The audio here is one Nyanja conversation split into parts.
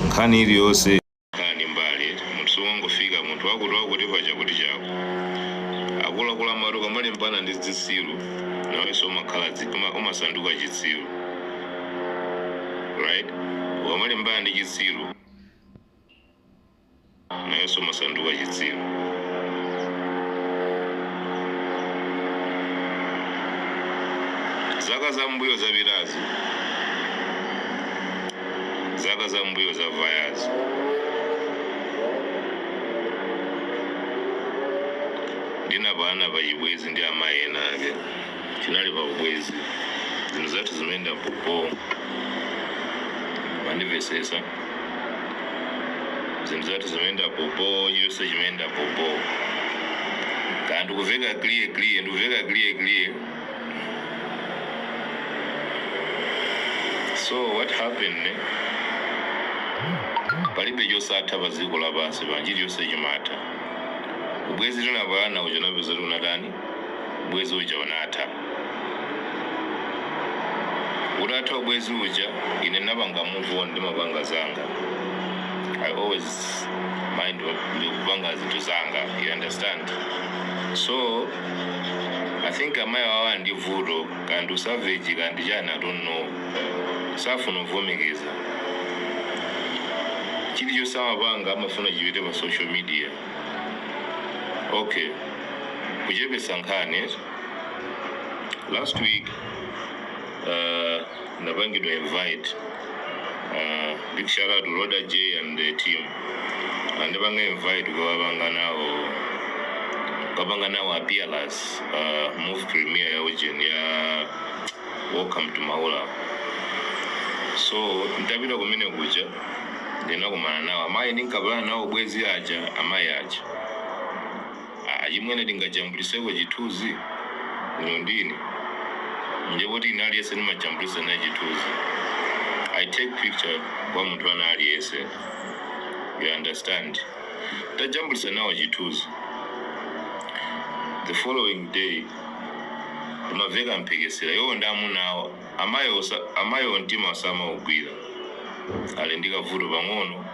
nkhani iliyonse kani mbali munthu wangofika munthu wakuti wakuti paja kuti chako akuluakulu amati ukamalimbana ndi zitsiru nawenso umakhala dzi- uma- umasanduka chitsiru right ukamalimbana ndi chitsiru nawenso umasanduka chitsiru. Zaka za m'mbuyo zapitazi, zaka za m'mbuyo zavayazi, ndinapalanapo chibwezi ndi amayi ena ake. Tinali pa ubwezi, zinthu zathu zimayenda popo mandimvetsetsa. zinthu zathu zimayenda popo chilichonse chimayenda popo kaya ndikuveka clear clear ndikuveka clear clear so what happened ne palibe chosatha pa dziko lapansi pano chilichonse chimatha ubwezi tinapalana uja napeza kuti unatani ubwezi uja unatha. Utatha ubwezi uja, ine napanga move on, ndimapanga zanga. I always mind ndikupanga zinthu zanga, you understand? So, I think amayi awa ndi vuto, kaya ndi usavage, kaya ndi chani, I don't know. Safuna kuvomereza. Chilichonse amapanga amafuna chipite pa social media. okay kuchepesa nkhani eti. last week uh, ndapangidwa invite uh, big shout out to roda j and the team andipanga invite kukapanga nawo kukapanga nawo appearance uh, movie premiere ya ujeni ya welcome to maula so ndapita kumene kuja ndinakumana nawo amayi ndinkapalana nawo ubwenzi aja amayi aja "Ah, achimwene tingajambuliseko chithunzi inu ndi ine nde poti ine aliyense ndimajambulisa naye chithunzi i take picture kwa munthu wina aliyense you understand tajambulisa nawo chithunzi the following day kumaveka mphekesera iwowo ndi amuna awo Amayi amayiwo mtima samaugwira Ali ndi kavuto pang'ono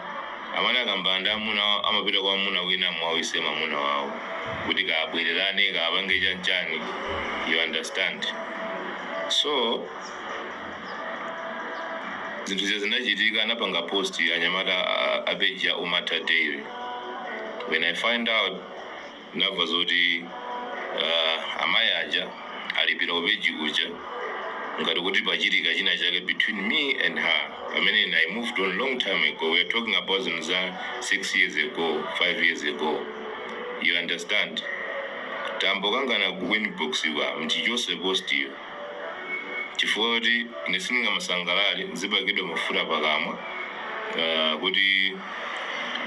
Amati akayambana ndi amuna awo amapita kwa mwamuna wina Muwawise mamuna wawo kuti kaya abwererane kaya apange chan chani you understand so zinthu zija zinachitika anapanga post anyamata a, a, a page ya umatha daily when I find out Ndamva zoti uh, amayi aja alipira pa page kuja ngati kuti pachitika china chake between me and her pamene ine i moved on long time ago we are talking about zinthu za 6 years ago 5 years ago you understand tambokangana ku inbox kwa m'chichotse postiyo chifukwa kuti ine sindingamasangalale ndizipakidwa mafuta pakamwa ah, kuti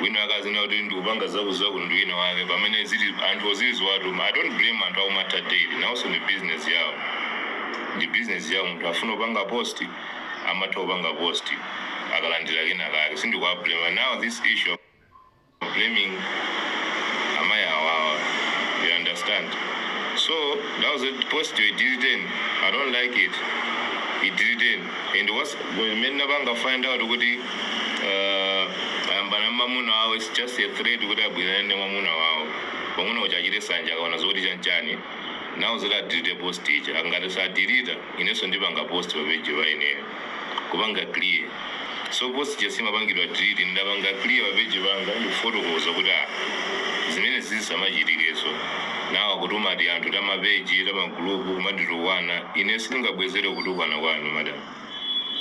wina akazina kuti ndikupanga zakuzaku ndi wina wake pamene zili anthu oziziwatu i don't blame anthu aku Umatha daily nawonso ndi business yawo ndi business yawo munthu afuna kupanga post amatha kupanga post akalandira kena kake sindikuwablame now this issue blaming amayi awa awa you understand so now that post iyo idiliteni i don't like it idiliteni and mmene ndinapanga find out kuti uh, ayambana ndi mamuna wawo its just a threat kuti abwererane ndi mamuna wawo mwamuna uja achite sanja akaona zoti chanchani now zoti adelete post ija ngati sadelita inenso ndipanga post pa page pa ineyo kupanga clear so post ija sinapangidwe delete ndapanga clear pa page panga ndikufotokoza kuti ah zimene zizisamachitikeso nawo akutuma ti anthu ta mapeji ta magulupu kumanditukwana ine sindingabwezere kutukwana kwanu madam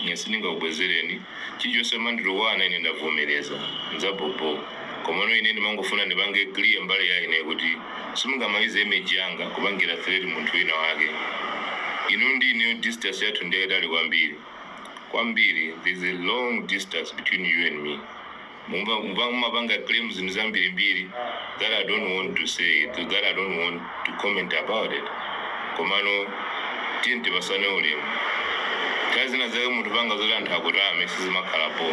ine sindingakubwezereni chilichonse mwanditukwana ine ndavomereza nzabhobho komano ine ndimangofuna ndipange clear mbali ya ine kuti Simungamayuze image yanga kupangira threat munthu wina wake. Inu ndi ineyo distance yathu ndiyayitali kwambiri. Kwambiri, there is a long distance between you and me. Muma- muma- Mumapanga claim zinthu zambirimbiri that I don't want to say, that I don't want to comment about it. komano tiyeni tipasane ulemu nthawi zina zake munthu kupanga zoti anthu akutame sizimakhala bho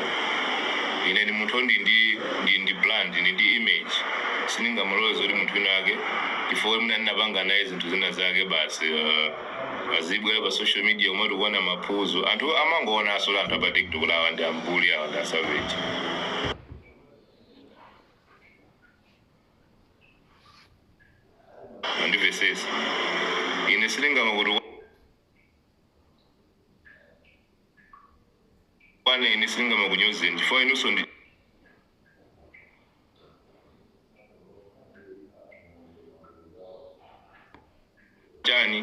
ine ndi munthu ndi ndi ndi ndi brand ndi ndi image sindingamalole zoti munthu wina ake chifukwa mwina ndinapanga naye zinthu zina zake basi uh, azibwera pa social media umati kuona maphunziro anthu amangoona asola anthu apa tiktok kuti awa ndi ambuli awa ndi asavage andivesesa ine sindingamakutukwaneni ine sindingamakunyozeni chifukwa inunso ndi chani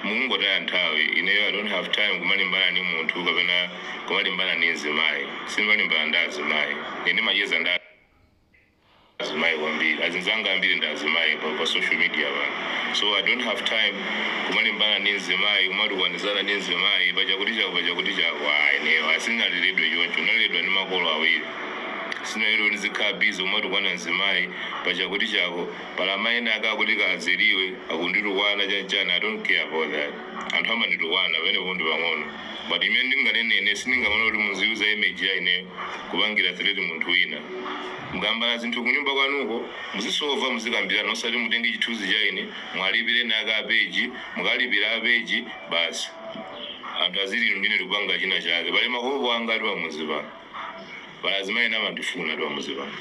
mukungotaya nthawi ineyo i don't have time kumalimbana ndi munthu kapena kumalimbana ndi mzimayi simalimbana ndi azimayi ine ndimacheza ndi azimayi kwambiri azinzanga ambiri ndi azimayi pa, pa social media pano so i don't have time kumalimbana ndi mzimayi kumatukwanizana ndi mzimayi pachakuti chako pachakuti chako ayi ineyo sinaleredwe choncho naleredwa ndi makolo awiri sinalero ndizikhala busy kumatukwana mzimayi pachakuti chako pali amayi ena ake akuti kaya azeliwe akunditukwana chanchani i don't care about that anthu amanditukwana pamenepo ndi pang'ono but imene ndinganene ine sindingamane kuti muziyuza image ya ineyo kupangira threat munthu wina mukambana zinthu kunyumba kwanuko muzisova muzikambirana osati mutenge chithunzi cha ine mwalipire naka apeji mukalipira apeji basi anthu aziti inu ndi ine tikupanga china chake pali mahope angati pamuzi pano pali azimayi ena amandifuna angati pamuzi pano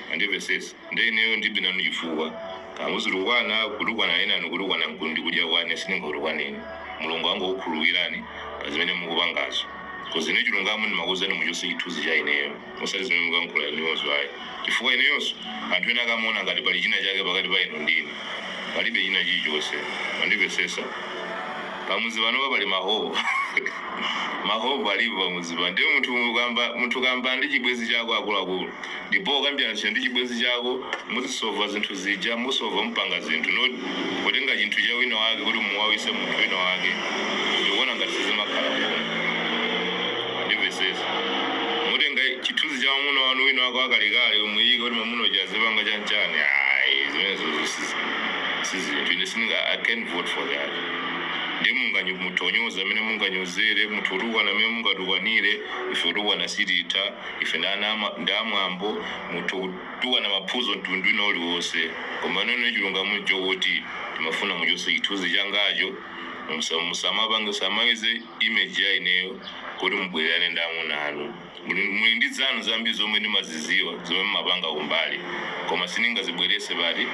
mwandimvesesa nde ineyo ndibe nanu chifukwa kaya muzitukwana kutukwana enanu kutukwanako ndi kudya kwanu sindingakutukwaneni mulungu angokukhululukirani pa zimene mukupangazo koma ine chilungamo ndimakuuzani muchose chithunzi cha ineyo osati zimene mukankhula inuyozo ayi Chifukwa ineyonso, anthu ena akamaona ngati pali china chake pakati pa inu ndi ine, palibe china chilichonse. Mwandimvetsetsa? Pamudzi panopa pali ma hope. Ma hope alipo pamudzi pano. Ndiye munthu ukayamba, munthu ukayambana ndi chibwenzi chako akuluakulu, ndipo ukambirana ndi chibwenzi chako, muzisova zinthu. zija musova mupanga zinthu not kutenga chinthu cha wina wake kuti mumuwawise munthu wina wake ndikuona ngati sizimakhala bwino mwandimvesesa mutenga chithunzi cha mamuna wanu wina wake wakalekale muyike kuti mamuna uja azipanga chanchani ayi zimenezozo sizi- sizinthu ine sininga i can't vote for that ndi munganyi mutonyoza mmene munganyozere mutha utukwana mmene mungatukwanire ife utukwana sititha ife ndi ana ama- ndi amwambo mutha Tukwana maphuzo mtundu wina uliwonse koma ine ine chilungamo mchokuti ndimafuna muchose chithunzi changacho musa musamapange musamayuze image ya ineyo kuti mubwelelane ndi amuna anu muli muli ndi zanu zambiri zomwe ndimaziziwa zomwe mumapanga kumbali koma sindingazibwelese pati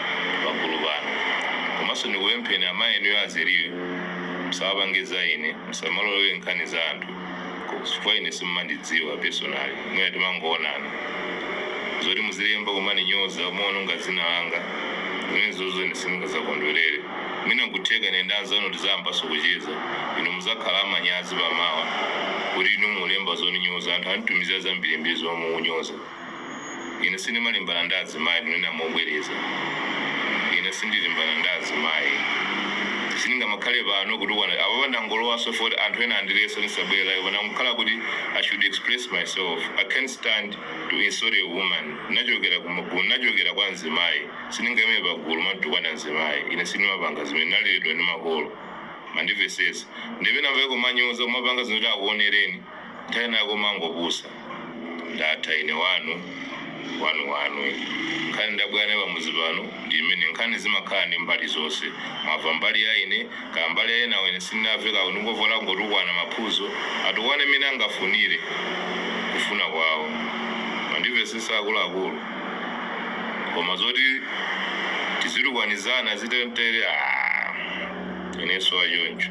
pagulu pano komanso ndikupempheni amayi inuyo azeliwe musamapange za ine musamalowelele nkhani za anthu. chifukwa ine simumandidziwa personally mwina timangoonana zoti muzilemba kumaninyoza kumaononga dzina langa zimenezozo ine sindingazakondwerere mwina nkutheka ine ndi anzanu tizayambanso kucheza inu muzakhala amanyazi pamawa kuti inu mulemba zoninyoza anthu anditumizira zambirimbiri zomwe mukunyoza Ine sindimalimbana ndi azimayi, kunena mobwereza, ine sindilimbana ndi azimayi. Sindingamakhale pano kutukwana, apapa ndangolowanso chifukwa choti anthu ena andilesa kuti ndisabwere live ndangokhala kuti I should express myself, I can't stand to insult a woman, ndinachokera ku ma, ndinachokera kwa mzimayi, sindingaime pagulu kumatukwana mzimayi, ine sindimapanga zimene, ndinaleredwa ndi makolo, mwandimvesesa, ndiye pena pake kumanyoza, kumapanga zinthu zoti akuonereni. Nthawi ya kumangopusa ndatha ine wanu wanu wanu ine. Nkhani ndabwera nayo pamudzi pano ndi imene nkhani zimakhala ndi mbali zonse. Mwamva mbali ya ine, kaya mbali ya enawo ine sindinamve kaya kundingovota kungotukwana maphuzo atukwane mmene angafunire kufuna kwawo. Mwandimvetsetsa akuluakulu? Koma zoti tizitukwanizana zitentere aah ineso wachoncho.